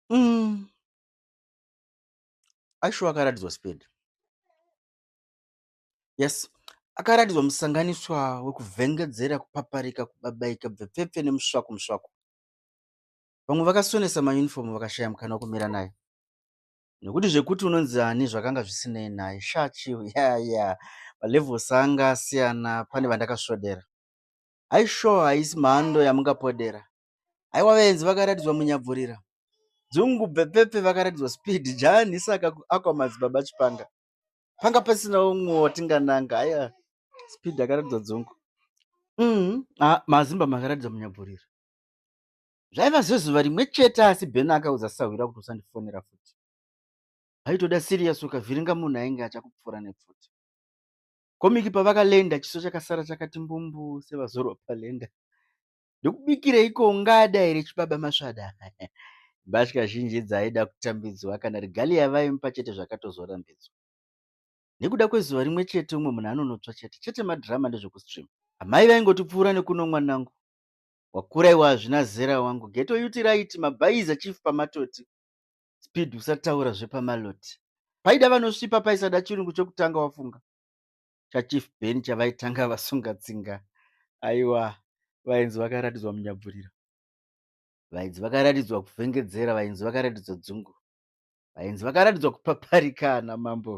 Mm. Aishuwa akaratidzwa speed. Yes. Akaratidzwa musanganiswa wekuvhengedzera, kupaparika, kubabaika, bvepfepfe nemusvaku musvaku. Vamwe vakasonesa mayunifomu vakashaya mukana wekumira naye. Nekuti zvekuti unonzi ani zvakanga zvisinei naye. Sha chiu, ya ya. Malevels anga asiyana pane vandakasvodera. Aishuwa haisi mhando yamungapodera. Haiwa vaenzi vakaratidzwa munyabvurira. Dzungu bhepepe vakaratidzwa speed jani saka akwa madzibaba chipanga. Panga pasina umwe watingananga haya speed akaratidzwa dzungu. Mm, ah, mazimba makaratidzwa munyabvurira. Zvaiva zvezuva rimwe chete asi Ben akaudza sahwira kuti usandifonera futi. Haitoda serious ukavhiringa munhu ainge achakupfuura nepfuti. Komiki pavakalenda chiso chakasara chakati mbumbu sevazorwa palenda. Ndokubikireiko ungada here chibaba masvada? Mbatya zhinji dzaaida kutambidzwa kana regalia vaimupa chete zvakatozorambidzwa. Nekuda kwezuva rimwe chete umwe munhu anonotswa chete chete madhirama ndezvekustream. Amai vaingotipfuura nekuno mwanangu. Wakura iwe hazvina zera wangu. Geto yuti raiti mabhaiza chief pamatoti. Speed usataura zvepamaloti. Paida vanosvipa paisada chirungu chokutanga wafunga. chachief ben chavaitanga vasunga tsinga aiwa vainzi vakaratidzwa munyabvuriro vainzi vakaratidzwa kuvhengedzera vainzi vakaratidzwa dzungu vainzi vakaratidzwa kupaparika ana mambo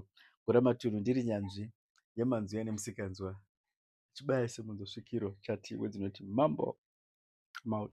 gura matunhu ndiri nyanzvi yemanzwi ane musikanzwa chibaya semunzosvikiro chati wedzinoti mambo maut